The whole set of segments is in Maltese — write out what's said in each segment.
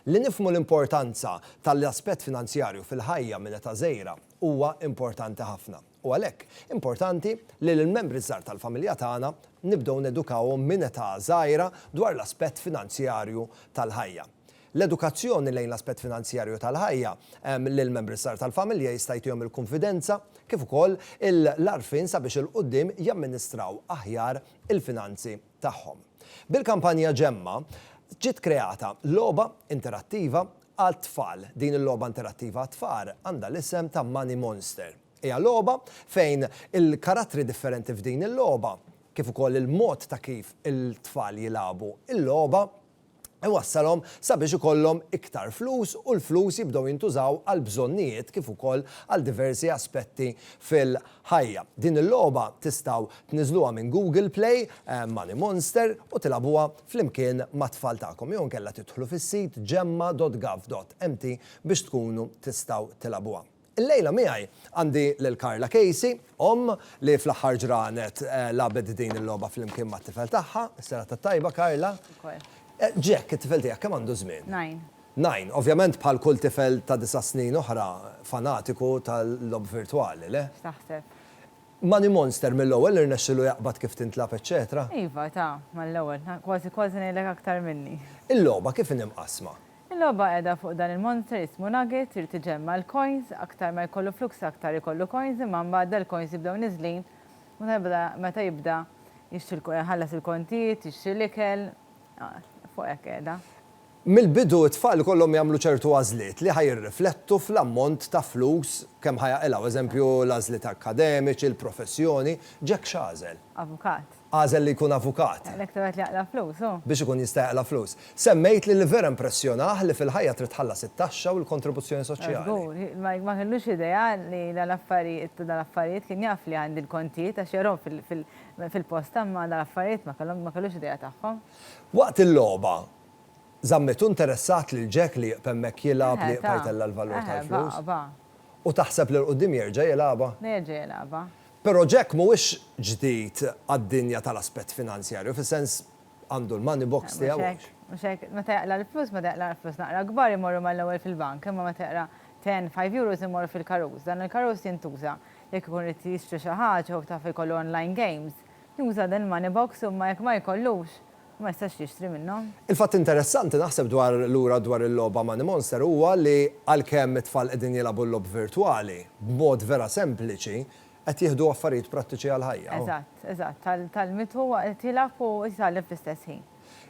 Li nifhmu l-importanza tal-aspett finanzjarju fil-ħajja minn età żgħira huwa importanti ħafna, u għalhekk importanti li lill-membri ż-żgħar tal-familja tagħna nibdew nedukawhom minn età żgħira dwar l-aspett finanzjarju tal-ħajja. L-edukazzjoni lejn l-aspett finanzjarju tal-ħajja lill-membri żgħar tal-familja jista' jtihom il-kunfidenza kif ukoll l-għarfien sabiex 'il quddiem jamministraw aħjar il-finanzi tagħhom. Bil-kampanja Ġemma, ġiet kreata logħba interattiva għat-tfal. Din il-logħba interattiva għat-tfal għandha l-isem ta' Money Monster. Hija logħba fejn il-karattri differenti f'din il-logħba, kif ukoll il-mod ta' kif il-tfal jilagħbu l-logħba, iwassalhom sabiex ikollhom iktar flus u l-flus jibdew jintużaw għal bżonnijiet kif ukoll għal diversi aspetti fil-ħajja. Din il-logħba tistgħu tniżżluha minn Google Play, Money Monster, u tilagħbuha flimkien mat-tfal tagħkom jew inkella tidħlu fis-sit gemma.gov.mt biex tkunu tistgħu tilagħbuha. Illejla miegħi għandi lil Karla Casey, omm li fl-aħħar ġranet lagħbet din il-logħba flimkien mat-tifel tagħha. Is-serata t-tajba Karla. Ukoll. Jack, it-tifel tiegħek kemm għandu żmien? Nine. Nine. Ovvjament bħal kull tifel ta' disa' snin oħra fanatiku tal-logħob virtwali, le? X'taħseb? Money Monster mill-ewwel irnexxilu jaqbad kif tintlagħab eċċetera? Iva, ta, mal-ewwel. Kważi kważi ngħidlek aktar minni. Il-logħba kif inhi mqassma? Il-logħba qiegħda fuq dan il-monster jismu Nugget, irid iġemma' l-coins, aktar ma jkollu flux aktar ikollu coins imma mbagħad dal-coins jibdew niżlin u tal-bda meta jibda jixtri iħallas il-kontijiet, jixtri l-ikel, fuq hekk qiegħda. Mill-bidu t-tfal ikollhom jagħmlu ċertu għażliet li ħa jirriflettu fl-ammont ta' flus kemm ħa jaqilgħu, eżempju l-għażliet akkademiċi, il-professjoni, Jack x'għażel? Avukat. Għażel li jkun avukat. Għalhekk tebgħet li jaqla' flus, hu. Biex ikun jista' jaqla' flus. Semmejt li li vera impressjonah li fil-ħajja trid tħallas it-taxxa u l-kontribuzzjoni soċjali. Żgur, Mike ma kellux idea li dal-affarijiet u dal-affarijiet, kien jaf li għandi l-kontijiet għax jarahom fil-posta imma dal-affarijiet ma kellhom ma kellux idea tagħhom. Waqt il-logħba, żammitu interessat lil Jack li jieqf hemmhekk jilgħab li jibqa' jtella' l-valur tal-flus? Eħe, baqa', baqa'. U taħseb li 'l quddiem jerġa' jilgħabha? Jerġa' jilgħabha. Però Jack mhuwiex ġdid għad-dinja tal-aspett finanzjarju, fis-sens għandu l-money box tiegħu. Mhux hekk, mhux hekk. Meta jaqla' l-flus, meta jaqla' l-flus naqra kbar imorru mal-ewwel fil-bank, imma meta jaqra' ten, five euros imorru fil-karus. Dan il-karus jintuża jekk ikun irid jixtri xi ħaġa jew taf ikollu online games, juża dan il-money box imma jekk ma jkollux, u ma jistax jixtri minnhom. Il-fatt interessanti naħseb dwar lura dwar il-logħba Money Monster huwa li għalkemm it-tfal qegħdin jilagħbu l-logħob virtwali, b'mod vera sempliċi, qed jieħdu affarijiet prattiċi għall-ħajja. Eżatt, eżatt, tgħallmitu huwa qed jilgħab u qed jitgħallem fl-istess ħin.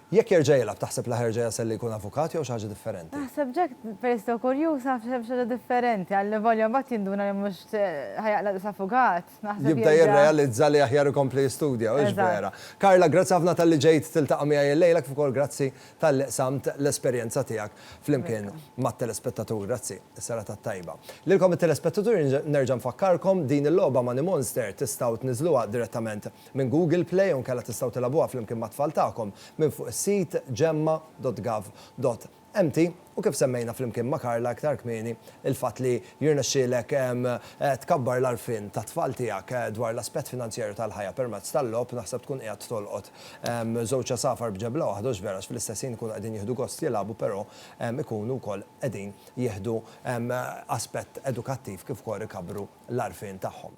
Jekk jerġa' jilgħab taħseb li ħa jerġa' jasal li jkun avukat jew xi ħaġa differenti? Naħseb Jack peress li hu kurjuż ħa jaf xi ħaġa differenti, allavolja mbagħad jinduna li mhux ħa jaqla' l-istess avukat. jibda jirrealizza li aħjar ikompli jistudja, u hix vera. Carla, grazzi ħafna talli ġejt tiltaqa' miegħi illejla kif ukoll grazzi talli qsamt l-esperjenza tiegħek flimkien mat-telespettatur. Grazzi. Is-serata t-tajba. Lilkom it-telespettatur nerġa' nfakkarkom din il-logħba Money Monster tistgħu tniżżluha direttament minn Google Play jew inkella tistgħu tilagħbuha flimkien mat-tfal tagħkom minn fuq is-sit gemma.gov. Empty, u kif semmejna flimkien ma' Karla iktar kmieni, il-fatt li jirnexxielek tkabbar l-għarfien tat-tfal tiegħek dwar l-aspett finanzjarju tal-ħajja permezz tal-logħob naħseb tkun qiegħed tolqot żewġ għasafar b'ġebla waħda u x'vera fl-istess ħin ikunu qegħdin jieħdu gost jilagħbu però ikunu wkoll qegħdin jieħdu aspett edukattiv kif ukoll ikabbru l-għarfien tagħhom.